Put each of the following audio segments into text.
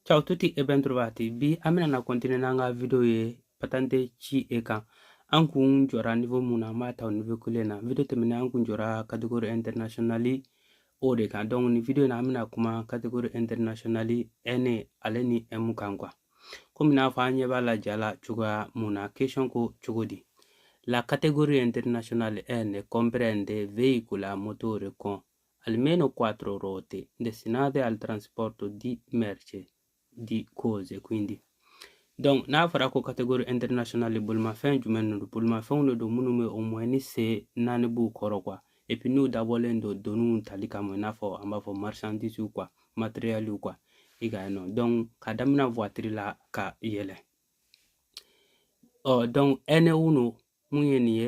Ciao tutti e ben trovati. Bi an bɛna na continuer n'an ka video ye patente C E kan. An kun jɔra niveau min na an b'a ta o niveau kelen na. Video tɛmɛnen an kun jɔra catégorie internationale o de kan. Donc nin video in na an bɛna kuma catégorie internationale N ale ni M kan quoi. Komi n'a fɔ an ɲɛ b'a la ja la cogoya min na question ko cogo di? La categoria internazionale N comprende veicoli a motore con Almeno quattro ruote destinati al trasporto di merce, di cose, quindi. Donc, n'a fɔra ko catégorie internationale bolimafɛn jumɛn de don bolimafɛnw de don minnu bɛ au moins ni sen naani b'u kɔrɔ quoi et puis n'u dabɔlen don doniw tali kama i n'a fɔ an b'a fɔ marchandise quoi matériel quoi i ka yen nɔ donc ka daminɛ voiture la ka yɛlɛ ɔ donc N1 min ye nin ye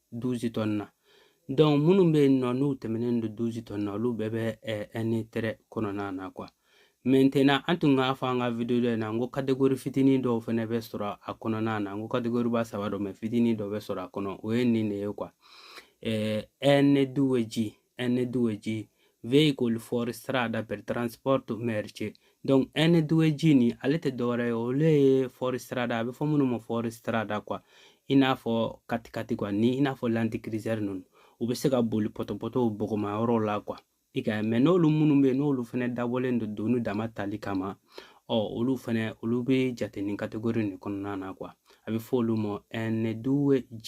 douze tonnes na donc minnu bɛ yen nɔ n'u tɛmɛnen don douze tonnes na olu bɛɛ bɛ N3 kɔnɔna na quoi maintenant an tun k'a fɔ an ka videoda in na n ko kategori fitinin dɔw fana bɛ sɔrɔ a kɔnɔna na n ko kategoriba saba don mais fitinin dɔ bɛ sɔrɔ a kɔnɔ o ye nin de ye quoi N2G N2G veicoli fuoristrada per trasporto merce donc N2G nin ale tɛ dɔwɛrɛ ye olu ye fuoristrada a bɛ fɔ minnu ma fuoristrada quoi i n'a fɔ quatre-quatre quoi ni i n'a fɔ Land Cruiser ninnu u bɛ se ka boli pɔtɔpɔtɔw bɔgɔma yɔrɔw la quoi i ka mɛ n'olu minnu bɛ yen n'olu fana dabɔlen don doni dama tali kama ɔ olu fana olu bɛ jate ni kategori nin kɔnɔna na quoi a bɛ fɔ olu ma N2G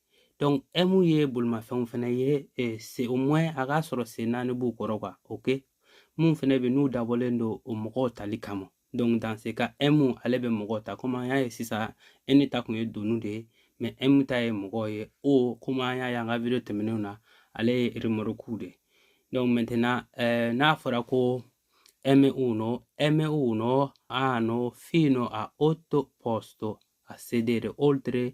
M ye bolimafɛnw fɛnɛ ye au moins a k'a sɔrɔ sen naani b'u kɔrɔ ka o kɛ mun fɛnɛ bɛ n'u dabɔlen don o mɔgɔw tali kama dans ce cas M ale bɛ mɔgɔw ta komi an y'a ye sisan N ta kun ye doni de ye mais M ta ye mɔgɔw ye O komi an y'a ye an ka video tɛmɛnenw na ale ye remɔrukuw de ye ɛɛ n'a fɔra ko M1 M1 hanno fino a otto posti a sedere oltre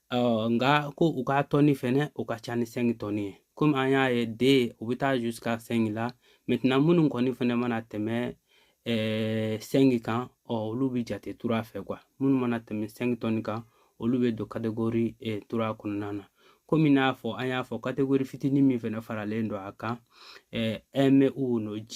nka ko u ka tɔni fɛnɛ o ka ca ni cinq tonnes ye komi an y'a ye deux bɛ taa jusqu'à cinq la minnu kɔni fɛnɛ mana tɛmɛ cinq kan ɔ olu bɛ jate trois fɛ quoi minnu mana tɛmɛ cinq tonnes kan olu bɛ don kategori trois kɔnɔna na komi n'a fɔ an y'a fɔ kategori fitinin min fɛnɛ faralen don a kan M1G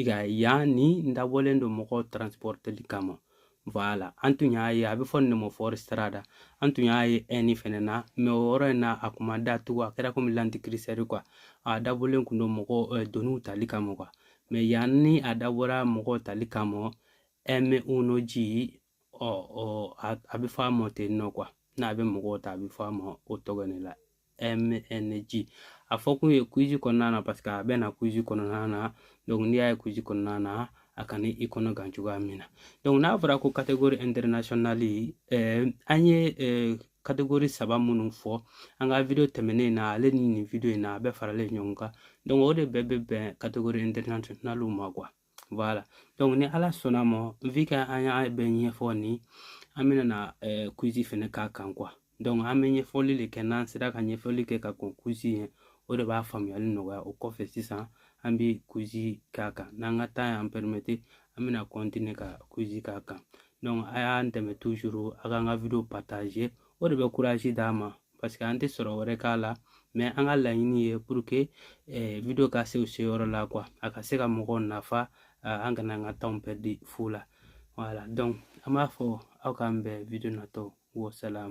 i ka yen nin dabɔlen don mɔgɔw transporteli kama voilà an tun y'a ye a bɛ fɔ nin ma fuoristrada an tun y'a ye N fɛnɛ na mais o yɔrɔ in na a kuma da tugu a kɛra komi Land Cruiser quoi a dabɔlen kun don mɔgɔ eh, doniw tali kama quoi mais yan ni a dabɔra mɔgɔw tali kama M1G ɔ ɔ a bɛ fɔ a ma ten nɔ kuwa n'a bɛ mɔgɔw ta a bɛ fɔ a ma o tɔgɔ ne la mng a fɔ kun ye kuzi kɔnɔna na paseke a bɛ na kuzi kɔnɔna na n'i y'a ye kuzi kɔnɔna na a kana i kɔnɔ gan cogoya min na n'a fɔra ko kategori ɛntɛrinasiyɔnali an ye kategori saba minnu fɔ an ka video tɛmɛnen in na ale ni nin video in na a bɛɛ faralen ɲɔgɔn kan o de bɛɛ bɛ bɛn kategori ɛntɛrinasiyɔnaliw ma kuwa wala dɔnku ni ala sɔnna a ma vi ke an y'a bɛɛ ɲɛfɔ ni an bɛna na eh, kuzi fɛnɛ k'a kan kuwa dɔnku an bɛ ɲɛfɔli de kɛ n'an sera ka ɲɛfɔli kɛ ka kɔn kuzi ɲɛ o de b'a faamuyali nɔgɔya o kɔfɛ sisan an bɛ kuzi k'a kan n'an ka tan y'an pɛrimete an bɛna kɔntine ka kuzi k'a kan dɔnku a y'an dɛmɛ tuzuru a k'an ka video partaze o de bɛ kurazi d'an ma paseke an tɛ sɔrɔ wɛrɛ k'a la mɛ an ka laɲini ye puruke video ka se u se yɔrɔ la kuwa a ka se ka mɔgɔw nafa an kana an ka tanw pɛridi fu la wala donc an b'a fɔ aw k'an bɛn video natɔ wasalamu